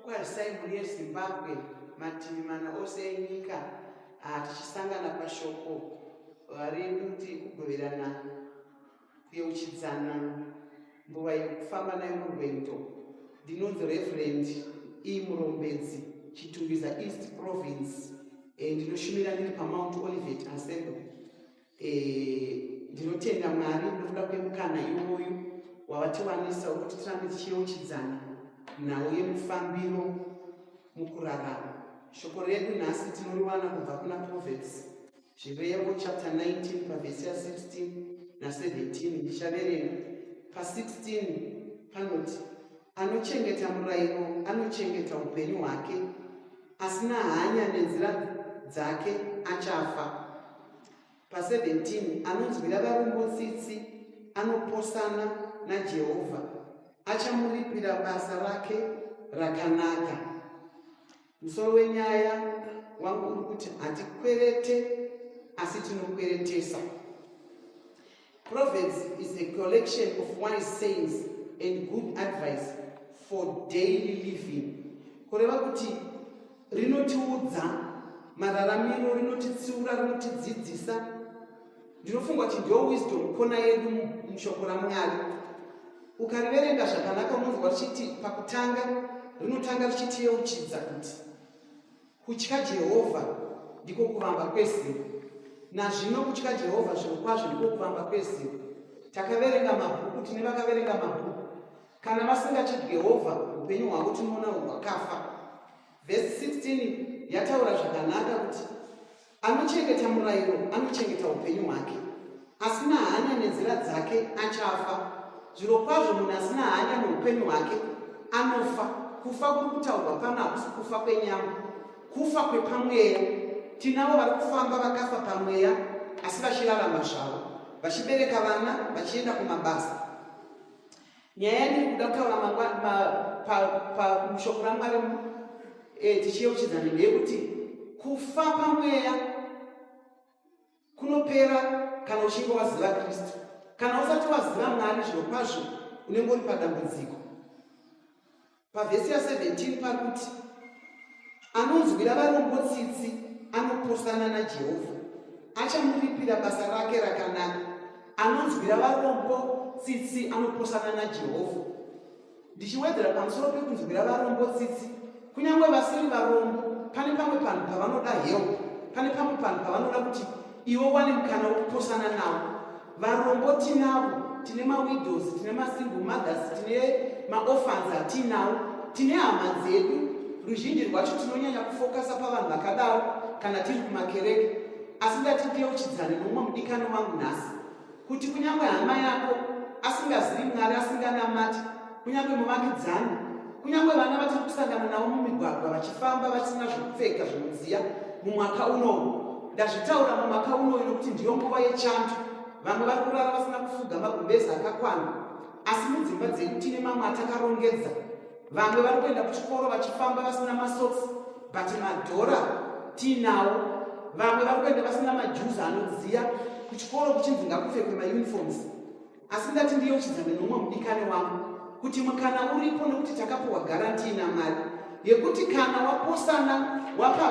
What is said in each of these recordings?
Kwarisai mhuri yeZimbabwe mativi mana ose enyika ah, tichisangana pashoko ah, rekuti kugoverana kuyeuchidzana mbuva yekufamba nayo murwendo ndinonzi reverend e murombedzi chitungiza east province eh, ndinoshumira ndiri pamount olivet assembly Eh, ndinotenda mwari nokuda kwemukana iwoyu wavatiwanisa wekuti tirambe tichiyeuchidzana nhau yemufambiro mukurarama shoko redu nhasi tinoriwana kubva kuna proverbs zvirevo chapter 19 pavhesi ya 16 na17 ndichaverenga pa16 panoti anochengeta murayiro anochengeta upenyu hwake Asina hanya nenzira dzake achafa. Pa 17 anonzwira varombo tsitsi anoposana naJehovha achamuripira basa rake rakanaka. Musoro wenyaya wangu uri kuti hatikwerete asi tinokweretesa. Proverbs is a collection of wise sayings and good advice for daily living. Kureva kuti rinotiudza mararamiro, rinotitsiura, rinotidzidzisa. Ndinofunga kuti ndiyo wisdom kona yedu mushoko raMwari. Ukariverenga zvakanaka unonzwa richiti pakutanga rinotanga richitiyeuchidza kuti Kutya Jehovha ndiko kuvamba kwezivo. Nazvino kutya Jehovha zvirokwazvo ndiko kuvamba kwezivo. Takaverenga mabhuku, tine vakaverenga mabhuku. Kana vasingatyi Jehovha, upenyu hwavo tinoona hwakafa. Vhesi 16 yataura zvakanaka kuti Anochengeta murairo anochengeta upenyu hwake, asina hanya nenzira dzake achafa. Zvirokwazvo munhu asina hanya neupenyu hwake anofa. Kufa kuri kutaurwa pano hakusi kufa kwenyama, kufa kwepamweya. Tinavo vari kufamba vakafa pamweya, asi vachirarama zvavo, vachibereka vana, vachienda kumabasa. nyaya yandiri kuda kutaura pashoko ramwari eh, tichiyeuchidzana ndeyekuti kufa pamweya kunopera kana uchinge waziva kristu kana usati waziva mwari zviro kwazvo unenge uri padambudziko pavhesi ya 17 pakuti anonzwira varombo tsitsi anopusana najehovha achamuripira basa rake rakanaka anonzwira varombo tsitsi anopusana najehovha ndichiwedzera pamusoro pekunzwira varombo tsitsi kunyange vasiri varombo pane pamwe panhu pavanoda help pane pamwe panhu pavanoda kuti iwe wane mukana wekupusana navo varombo tinavo tine mawidows tine masingle mothers tine maoffans hatiinawo tine hama dzedu ruzhinji rwacho tinonyanya kufokasa pavanhu vakadaro kana tiri kumakereke asi ndati ndiyeuchidzane nomumwe mudikano wangu nhasi kuti kunyange hama yako asingazivi mwari asinganamati kunyange muvakidzani kunyange vana vatiri kusangana navo mumigwagwa vachifamba vasina zvekupfeka zvinodziya mumwaka unou ndazvitaura mumwaka unou nokuti ndiyo nguva yechando vamwe vari kurara vasina kufuga magumbezi akakwana asi mudzimba dzedu tine mamwe atakarongedza vamwe vari kuenda kuchikoro vachifamba vasina masoks but madhora tiinawo vamwe vari kuenda vasina majuzi anodziya kuchikoro kuchinzi ngakupfekwe mauniforms asi ndati ndiyeuchidzane nomwe mudikani wangu kuti mukana uripo nekuti takapiwa garantii namari yekuti kana waposana wapa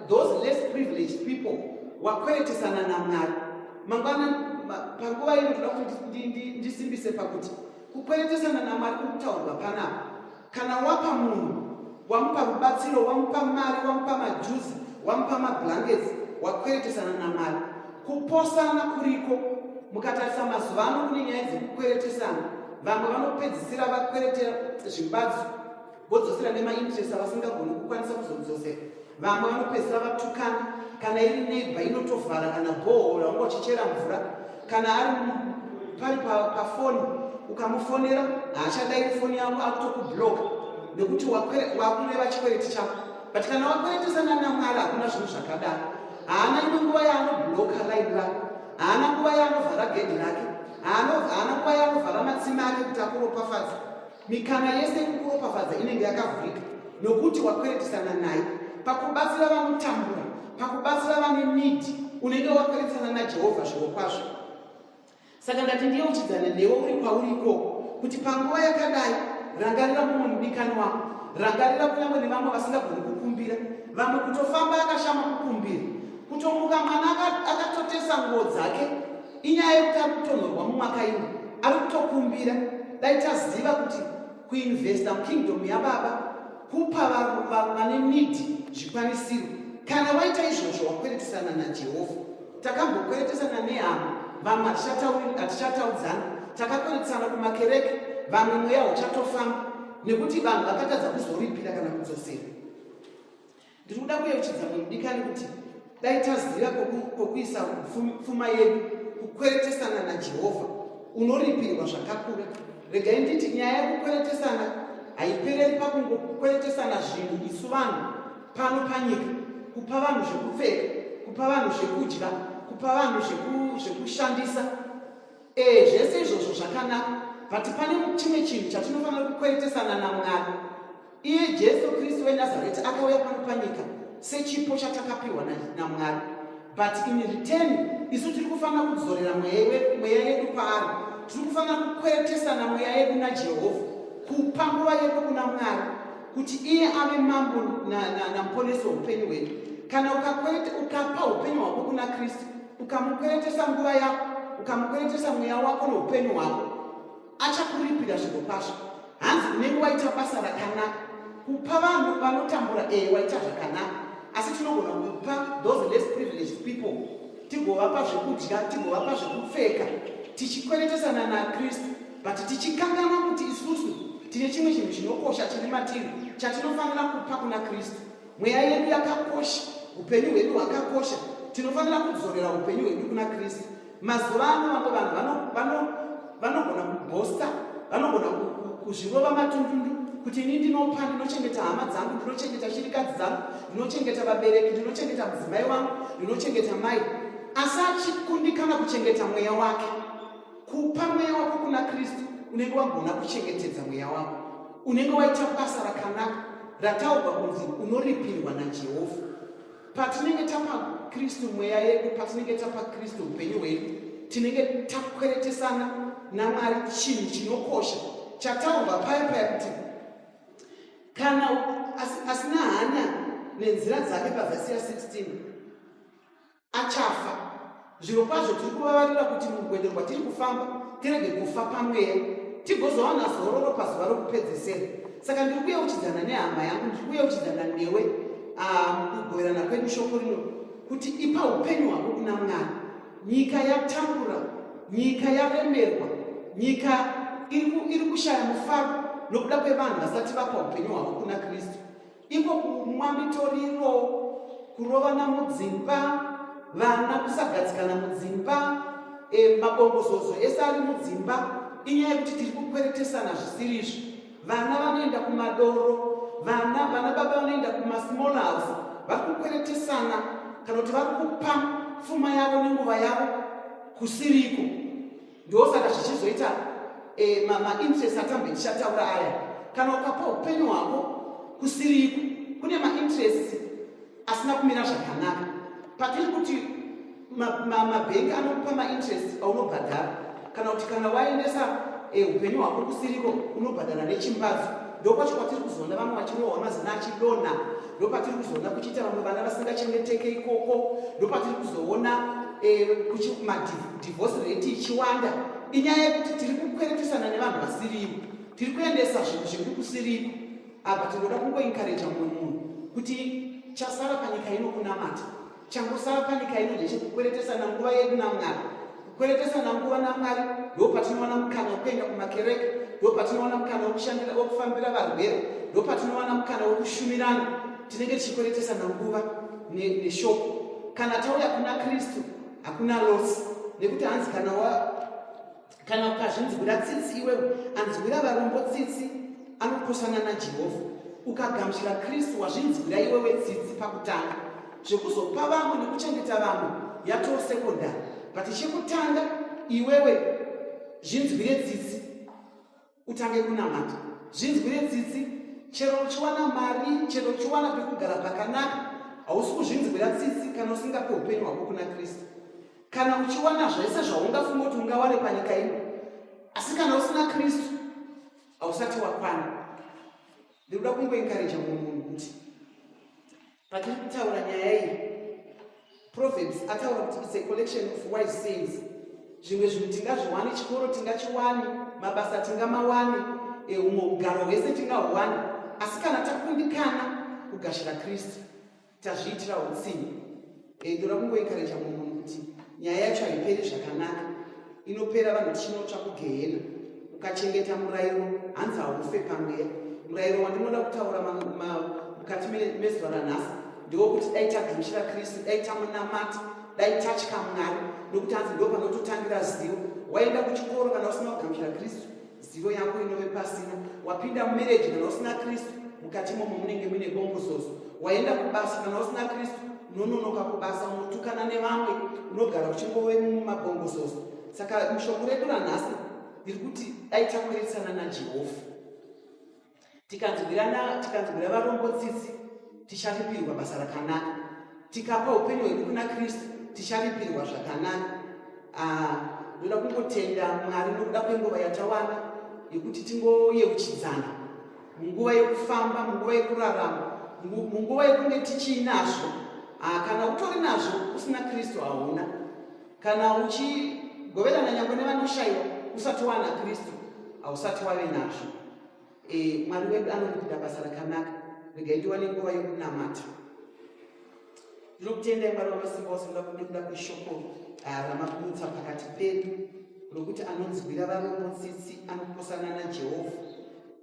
those less privileged people wakweretesana namari mangwana panguva ino ndoda kuti ndisimbise pakuti kukweretesana namari kukutaurwa panapa Kana wapa munhu, wamupa rubatsiro, wamupa mari, wamupa majuzi, wamupa mablankets, wakweretesana namari. Kuposana kuriko. Mukatarisa mazuva ano kune nyaya dzekukweretesana, vamwe vanopedzisira vakweretera zvimbadzo vodzosera nemainterest avasingagoni kukwanisa kuzodzosera. vamwe vanopedzisira vatukana kana iri neighbor inotovhara kana bhohora wanga uchichera mvura kana ari pari pafoni pa ukamufonera haachadai kufoni yako akutokubloka nekuti wakureva chikwereti chako but kana wakweretesa nanamwari hakuna zvinhu zvakadaro haana imwe nguva yaanobloka line rako haana nguva yaanovhara gedhi rake haana nguva yaanovhara matsima ake kuti akuropafadza Mikana yese yekukuropafadza inenge yakavhurika nokuti wakweretisana naye pakubatsira vanotambura, pakubatsira vane nidi, unenge wakweretisana naJehovha zvirokwazvo. Saka ndati ndiyeuchidzana newe uri kwauri ikoko kuti panguva yakadai rangarira mumwe mudikani wako, rangarira kunyange nevamwe vasingagoni kukumbira, vamwe kutofamba akashama kukumbira, kutomuka mwana akatotesa nguo dzake inyaya yekuti ari kutonhorwa mumwaka ino ari kutokumbira dai taziva kuti kuinvesta mukingdom yababa kupa vane nidi zvikwanisiro kana waita izvozvo wakweretisana najehovha takambokweretesana nehama vamwe hatichataudzana takakweretisana kumakereke vamwe mweya uchatofamba nekuti vanhu vakatadza kuzoripira kana kudzosera ndiri kuda kuyeuchidza mudikani kuti dai taziva kwokuisa pfuma yedu kukweretesana najehovha unoripirwa zvakakura regai nditi nyaya yekukweretesana haipereri pakungokweretesana zvinhu isu vanhu pano panyika kupa vanhu zvekupfeka kupa vanhu zvekudya kupa vanhu zvekushandisa ee zvese izvozvo zvakanaka but pane chimwe chinhu chatinofanira kukweretesana namwari iye jesu kristu wenazareti akauya pano panyika sechipo chatakapiwa namwari but in return isu tiri kufanira kudzorera mweya yedu paari tiri kufanira kukweretesana mweya yedu najehovha kupa nguva yedu kuna mwari kuti iye ave mambo namuponesi weupenyu hwedu kana ukakwereta ukapa upenyu hwako kuna kristu ukamukweretesa nguva yako ukamukweretesa mweya wako noupenyu hwako achakuripira zvinhu kwazvo hanzi unenge waita basa rakanaka kupa vanhu vanotambura ee eh, waita zvakanaka asi tinogona kupa those less privileged people tigovapa zvekudya tigovapa zvekupfeka tichikweretesana nakristu but tichikanganwa kuti isusu tine chimwe chinhu chinokosha chiri matiri chatinofanira kupa kuna kristu Mweya yedu yakakosha, upenyu hwedu hwakakosha. Tinofanira kudzorera upenyu hwedu kuna Kristu. Mazuva ano vamwe vanhu vanogona kubhosta, vanogona kuzvirova matundundu kuti ini ndinopa, ndinochengeta hama dzangu, ndinochengeta shirikadzi dzangu, ndinochengeta vabereki, ndinochengeta mudzimai wangu, ndinochengeta mai, asi achikundikana kuchengeta mweya wake. kupa mweya wako kuna kristu unenge wagona kuchengetedza mweya wako unenge waita basa rakanaka rataurwa kunzi unoripirwa najehovha patinenge tapa kristu mweya yedu patinenge tapa kristu upenyu hwedu tinenge takweretesana namwari chinhu chinokosha chataurwa paya paya kuti kana asina hana nenzira dzake pavhesi ya 16 achafa zviro kwazvo tiri kuvavarira kuti mugwede rwatiri kufamba tirege kufa pamweya tigozowana zororo pazuva rokupedzesera saka ndiri kuyeuchidzana nehama yangu ndiri kuyeuchidzana newe ah, mukugoverana kwedu shoko rino kuti ipa upenyu hwako kuna mwana nyika yatambura nyika yaremerwa nyika iri kushaya mufaro nokuda kwevanhu vasati vapa upenyu hwavo kuna kristu iko kumwa mitoriro kurovana mudzimba vana kusagadzikana mudzimba e, mabongozozo ese ari mudzimba inyaya yekuti tiri kukweretesana zvisiri izvi vana vanoenda kumadoro vana vana baba vanoenda kumasmall house vari kukweretesana kana kuti vari kupa pfuma yavo nenguva yavo kusiriko ndosaka zvichizoita eh, mainterest atambe ndichataura aya kana ukapa upenyu hwako kusiriko kune mainterest asina kumira zvakanaka patiri kuti mabhengi anokupa mainterest aunobhadhara kana kuti kana waendesa eh, upenyu hwako kusiriko unobhadhara nechimbadzo ndokwacho kwatiri kuzoona vamwe vachirohwa mazina achidonha ndopatiri kuzoona kuchiita vamwe vana vasingachengeteke ikoko ndopatiri kuzoona eh, kuchimadhii divorce rate ichiwanda inyaya yekuti tiri kukweretesana nevanhu vasirivo tiri kuendesa zvinhu zvekuri kusiriko apa tinoda kungoinkareja mumwe munhu kuti chasara panyika ino kunamata changosara panyika ino ndechekukweretesana nguva yedu namwari kukweretesana nguva namwari ndo patinoona mukana wekuenda kumakereke ndo patinoona mukana wekushandira wekufambira varwere ndo patinoona mukana wekushumirana tinenge tichikweretesana nguva neshoko ne kana tauya kuna kristu hakuna loss nekuti hanzi kana wa kana ukazvinzwira tsitsi iwe anzwira varombo tsitsi anokosana najehovha ukagamuchira kristu wazvinzwira iwe wetsitsi pakutanga zvekuzopa vamwe nekuchengeta vamwe yatoo sekondari but chekutanga iwewe zvinzwire tsitsi utange kunamata zvinzwire tsitsi chero uchiwana mari chero uchiwana pekugara pakanaka hausi kuzvinzwira tsitsi kana usingape upenyu hwako kuna kristu kana uchiwana zvese zvaungafunga kuti ungawane panyika ino asi kana usina kristu hausati wakwana ndikuda kungoenkareja mumwe munhu kuti Patiri kutaura nyaya iyi, Proverbs ataura kuti it's a collection of wise sayings. Zvimwe zvinhu tingazviwani, chikoro tingachiwani, mabasa tingamawani, eh, humwe ugaro hwese tingahwani, asi kana takundikana kugashira Kristu, tazviitira utsinye. Eh, ndoda kungoikareja munhu kuti nyaya yacho haiperi zvakanaka inopera vanhu tichinotsva kugehena ukachengeta murayiro hanzi haufe pamweya murayiro wandinoda kutaura mukati mezuva ranhasi ndewokuti dai tagumchira kristu dai tamunamati dai tatya mwari nokuti hanzi ndo panototangira zivo waenda kuchikoro kana usina kugamchira kristu zivo yako inove pasina wapinda mumereji kana usina kristu mukati momo munenge muine bongozozo waenda kubasa kana usina kristu unononoka kubasa unotukana nevamwe unogara uchingove mumabongozozo saka mushoko redu ranhasi ndiri kuti dai takweretsana najehovha tikanzwirana tikanzwira varombo tsitsi ticharipirwa basa rakanaka tikapa upenyu hwedu kuna kristu ticharipirwa zvakanaka ah, ndoda kungotenda mwari nokuda kwenguva yatawana yekuti tingoyeuchidzana munguva yekufamba munguva yekurarama munguva yekunge tichiinazvo ah, kana utori nazvo usina kristu hauna kana uchigoverana nyangwe nevanoshayiwa usati wana kristu hausati wave nazvo e, mwari wedu anoripiira basa rakanaka regai ndiwane nguva yokunamata ndinokutendai mwari wamasimba ose ndoda kudekuda kweshoko ah, ramakumutsa pakati pedu rokuti anonzwira varombo tsitsi anokosana najehovha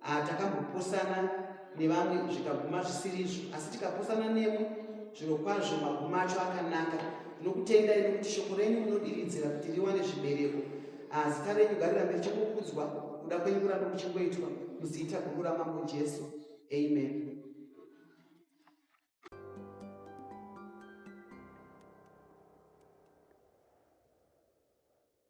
ah, takambokosana nevamwe zvikaguma zvisiri izvo asi tikapusana nemwe zvirokwazvo maguma acho akanaka ndinokutenda ini kuti shoko renyu munodiridzira kuti riwane zvibereko azita renyu garira mberi chokukudzwa kuda kwenyu kuramba kuchingoitwa muziita guru ramambo jesu amen